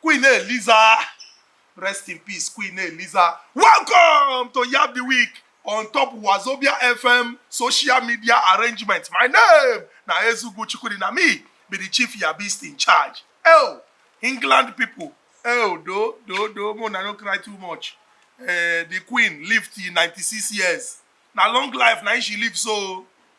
Queen Eliza, rest in peace, Queen Eliza. Welcome to Yab the Week on top Wazobia FM social media arrangement. My name na Ezugu Chukudi, na me be the chief Yabist in charge. Oh, England people, oh, do, do, do, mo na no cry too much. Uh, the Queen lived in 96 years. Na long life na she live so.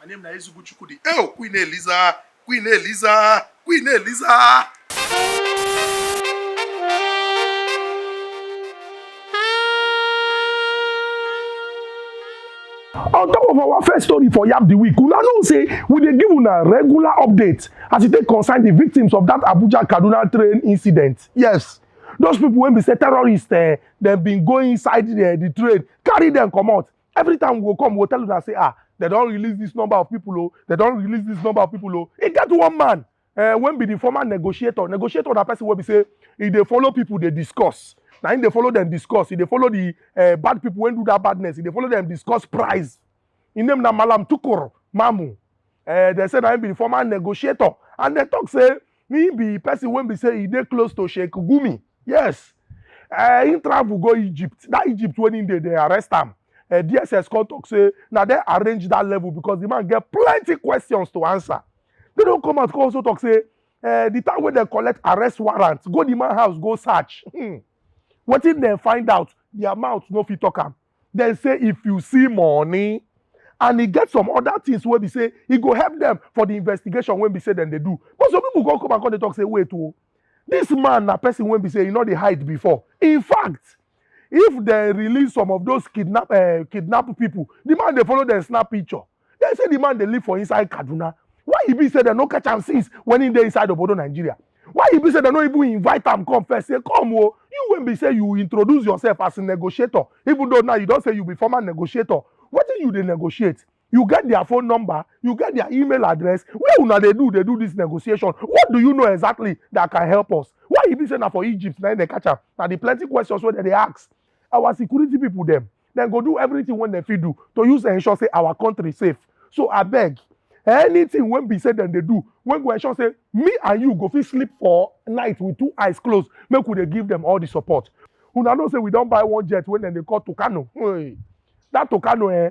My name na Ezigbo Chukwudi. Ew, Queen Eliza, Queen Eliza, Queen Eliza. on top of our first story for yab the week una know say we dey give una regular update as e take concern the victims of that abuja kaduna train incident yes those people wey be say terrorists eh, dem bin go inside the, the train carry dem comot Every time we go come, we go tell una say, ah, they don release this number of people, oh, they don release this number of people, oh. E get one man uh, when be the former negotiator. Negotiator na person wey be say e dey follow people dey discuss. Na him dey follow them discuss. E dey follow the uh, bad people wey do that badness. E dey follow them discuss price. Him name na Malam Tukur Mamu. Uh, they say na him be the former negotiator. And they talk say na him be person wey be say he dey close to Sheikh Gumi yes uh, him travel go Egypt that Egypt when he dey they arrest him. uh, eh, DSS come talk say now they arrange that level because the man get plenty questions to answer they don't come out come also talk say uh, the time when they collect arrest warrant go the man house go search hmm. wetin dem find out their mouth no fit talk am dem say if you see money and e get some other things wey be say e go help dem for the investigation wey be say dem dey do but some people go come and come dey talk say wait o this man na person wey be say e no dey hide before in fact if dem release some of those kidnap uh, kidnap people the man dey follow dem snap picture Dem say di man dey live for inside Kaduna, why e be say dem no catch am since when im dey inside obodo Nigeria? Why e be say dem no even invite am come first say come o, you wey be say you introduce yourself as negotiator even though now you don say you be former negotiator, wetin you dey negotiate? You get dia phone number? You get dia email address? Where una dey do dey do dis negotiation? What do you know exactly that can help us? Why e be say na for Egypt na im dem catch am? Na di plenty questions wey dem dey ask. our security people dem dem go do everything wey dem fit do to use ensure say our country safe so abeg anything wey be say dem dey do wey go ensure say me and you go fit sleep for night with two eyes closed make we dey give dem all the support una know say we don buy one jet wey dem dey call Tucano hey, that Tucano eh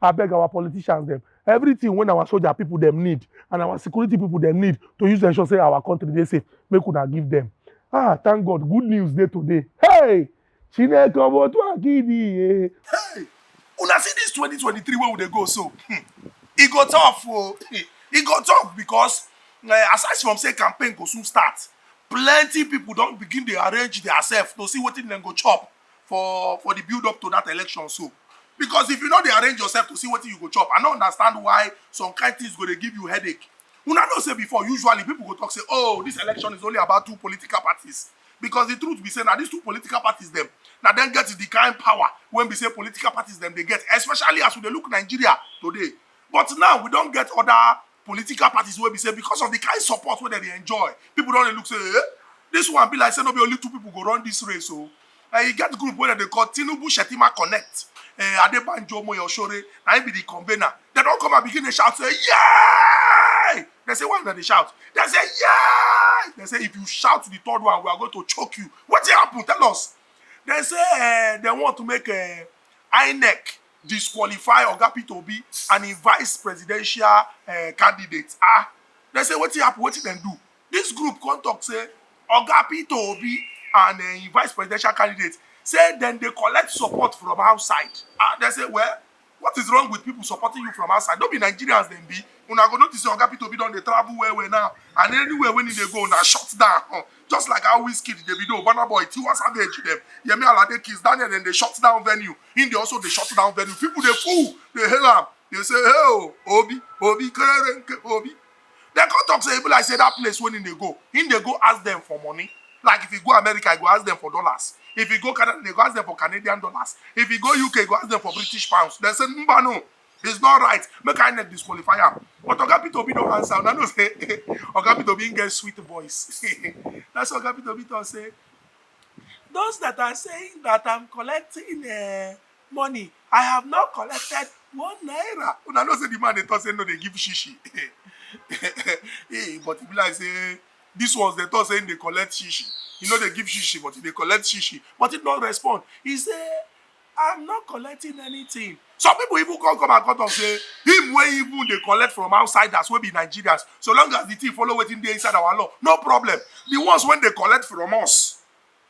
abeg our politicians dem everything when our soldier people dem need and our security people dem need to use ensure say our country dey safe make una give them ah thank god good news dey today hey chineke ọmọ otu akidi ye. hey una see this 2023 wey we dey go so hmm. e go tough o oh. hmm. e go tough because uh, eh, aside from say campaign go soon start plenty people don begin dey arrange their self to see wetin dem go chop for for the build up to that election so because if you no dey arrange yourself to see wetin you go chop i no understand why some kind things go dey give you headache una know say before usually people go talk say oh this election is only about two political parties because the truth be say na these two political parties dem na dem get the kind power wey be say political parties dem dey get especially as we dey look nigeria today but now we don get other political parties wey be say because of the kind support wey dem dey enjoy people don dey look say eh this one be like say no be only two people go run this race o oh. na e get group wey dem dey call tinubu shetima connect eh, adebanjo moyoshore na im be the convener dem don come and begin dey shout say yay dem say why una dey shout dem say yay dem say if you shout the third one we are going to choke you wetin happen tell us dem say eh, dem want to make eh, inec disqualify oga peter obi and im vice presidential eh, candidate ah dem say wetin happen wetin dem do dis group come talk say oga peter obi and eh, im vice presidential candidate say dem dey collect support from outside ah dem say well what is wrong with people supporting you from outside no be nigerians dem be una go notice say oga peter obi don dey travel well well now and anywhere wey he dey go na shut down just like how Wizkid, Davido, Burna Boy, Tiwa Savage, them, Yemi Alade, Kiss Daniel, then they shut down venue. In the also they shut down venue. People they fool, they hail them. They say, hey, oh, Obi, Obi, Obi. They come talk say, people like say that place when in they go. In they go ask them for money. Like if you go America, I go ask them for dollars. If you go Canada, they go ask them for Canadian dollars. If you go UK, go ask them for British pounds. They say, no, no. it's not right make inec disqualify am but oga peter obi don answer una know say oga peter obi get sweet voice that's oga peter obi talk say those that are saying that i'm collecting uh, money i have not collected one naira una know say the man dey talk say no dey give shishi hey, but e be like say this ones dey talk say him dey collect shishi he no dey give shishi but he dey collect shishi but he no respond he say I'm not collecting anything. Some people even come come and cut off say him wey even dey collect from outsiders wey be Nigerians. So long as the thing follow wetin dey inside our law, no problem. The ones when they collect from us,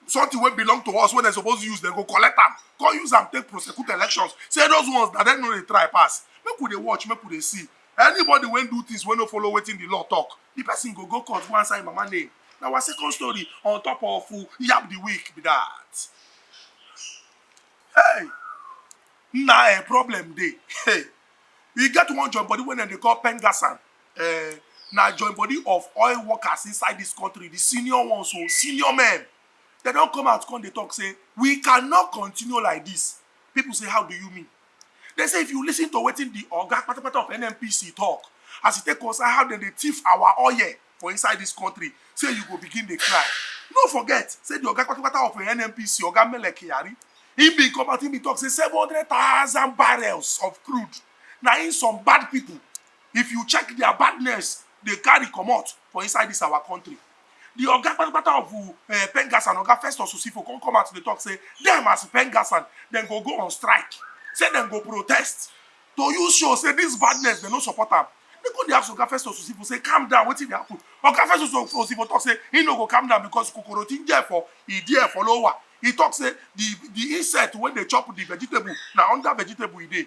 something wey belong to us wey dem suppose use dem go collect am come use am take prosecute elections say those ones na dem no dey try pass make we dey watch make we dey see anybody wey do things wey no follow wetin the law talk the person go go court go answer im mama name na our second story on top of yab the week be that hey na a eh, problem dey hey e get one joint body wey dem dey call pengasan uh, eh, na joint body of oil workers inside this country the senior ones o oh, senior men dem don come out come dey talk say we cannot continue like this people say how do you mean They say if you listen to wetin the oga patapata of NNPC talk, as e take concern how dem dey thief our oil for inside this country, say you go begin dey cry. No forget, say the oga patapata of NNPC, oga Mele Kyari, he bin come out, he bin talk say seven hundred thousand barrels of crude na im some bad people, if you check their badness, dey carry comot for inside this our country. di oga kpatakpata of um Pengassan, Oga Festus Osifo come come out to dey talk say dem as Pengassan, dem go go on strike, say dem go protest to use show say dis badness dem no support am. Dem come dey ask Oga Festus Osifo say calm down wetin dey happen? Oga Festus Osifo talk say im no go calm down because kokoro ti n jẹ ẹfọ, ìdí ẹfọ ló wà. E talk say di di insect wey dey chop di vegetable na under vegetable e dey.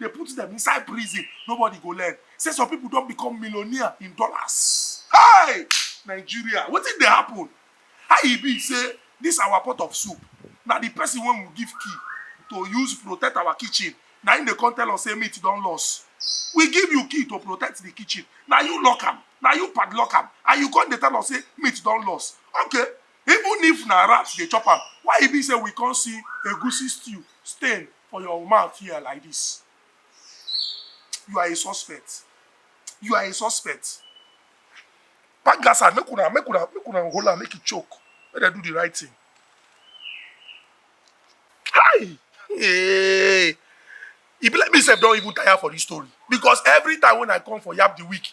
dey put dem inside prison nobody go learn say some people don become millionaire in dollars hey nigeria wetin dey happen how e be say this our pot of soup na the person wey we give key to use protect our kitchen na him dey come tell us say meat don loss we give you key to protect the kitchen na you lock am na you padlock am and you come dey tell us say meat don loss okay even if na rat dey chop am why e be say we come see egusi stew stain for your mouth here like this. You are a suspect. You are a suspect. Pack that side. Make una, make una, make una hold am, make it choke. Let them do the right thing. Hi! Hey! E be like me sef don even tire for this story because every time when I come for Yab the week,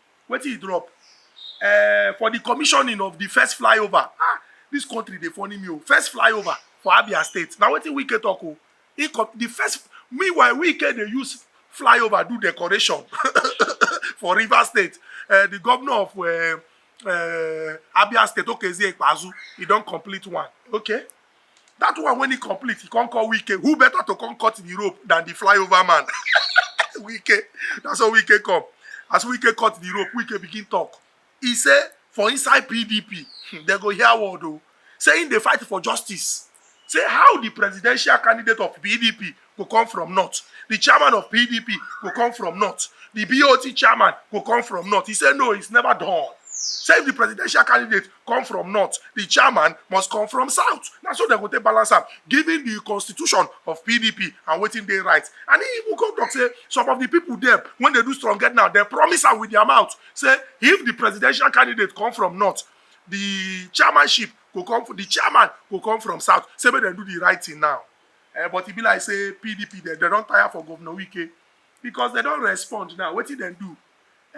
wetin e drop uh, for the commissioning of the first flyover ah this country dey funny me o first flyover for abia state na wetin wike talk o he the first meanwhile wike dey use flyover do decoration for river state uh, the governor of uh, uh, abia state okezie ikpeazu he don complete one okay that one when he complete he come call wike who better to come cut the rope than the flyover man wike na so wike come as wike cut the rope wike begin talk he say for inside pdp hmm, dem go hear word o oh. say im dey fight for justice say how the presidential candidate of pdp go come from north the chairman of pdp go come from north the bot chairman go come from north he say no it's never done say if the presidential candidate come from north the chairman must come from south na so dem go take balance am given the constitution of pdp and wetin dey right and he even come talk say some of the people dem when they do strong get now dem promise am with their mouth say if the presidential candidate come from north the chairmanship go come from the chairman go come from south say make dem do the right thing now Eh, but e be like say pdp dem dem don tire for governor wike because dem don respond now wetin dem do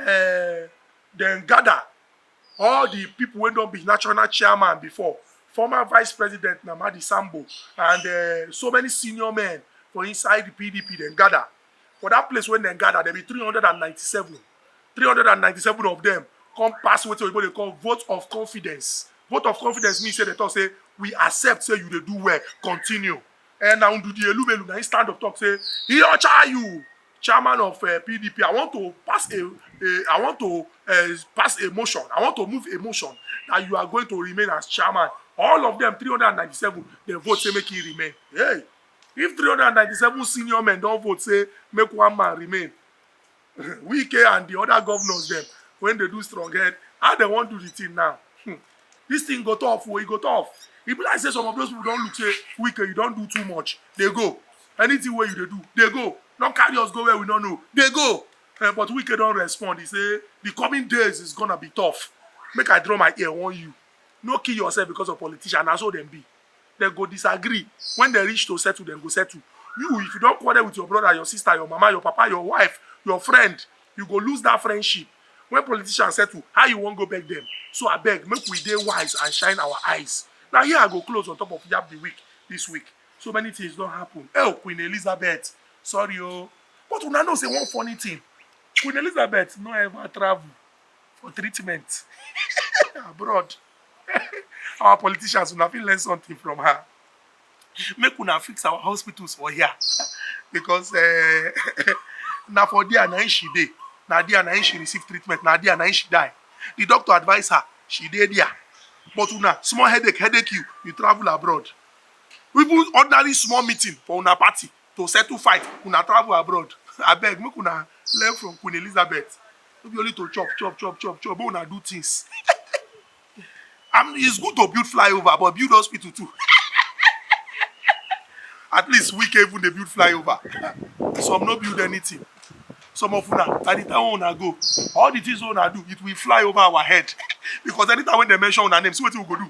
eh, dem gather all the people wey don be national chairman before former vice president namadi sambo and eh, so many senior men for inside the pdp dem gather for that place wey dem gather dem be three hundred and ninety-seven three hundred and ninety-seven of dem come pass wetin oyibo dey call vote of confidence vote of confidence mean say dem talk say we accept say you dey do well continue and na ndudi elumelu na him stand up talk say iyocha you chairman of uh, eh, pdp i want to pass a, a i want to uh, pass a motion i want to move a motion that you are going to remain as chairman all of them three hundred and ninety-seven dem vote say make he remain hey if three hundred and ninety-seven senior men don vote say make one man remain Wike and the other governors them when they do strong head, how they want do the thing now? Hmm. This thing go tough, oh, it go tough. E be like say some of those people don look say Wike, you don do too much. They go. Anything where you they do, they go. Don't carry us go where we don't know. They go. Uh, but Wike don't respond. He say the coming days is gonna be tough. Make I draw my ear on you. No kill yourself because of politician. That's all them be. dem go disagree when dem reach to settle dem go settle you if you don quarrel with your brother your sister your mama your papa your wife your friend you go lose that friendship when politicians settle how you wan go beg them so abeg make we dey wise and shine our eyes na here i go close on top of yab the week this week so many things don happen el queen elizabeth sorry o but una know say one funny thing queen elizabeth no ever travel for treatment abroad our politicians una fit learn something from her make una fix our hospitals for here because uh, na for there na she dey na there na she receive treatment na there na she die the doctor advise her she dey there but una small headache headache you you travel abroad even ordinary small meeting for una party to settle fight una travel abroad abeg make una learn from queen elizabeth no be only to chop chop chop chop chop make una do things and it's good to build flyover but build hospital too at least we can even dey build flyover some no build anything some of una by the time una go all the things una do it will fly over our head because anytime when they mention una name see wetin we go do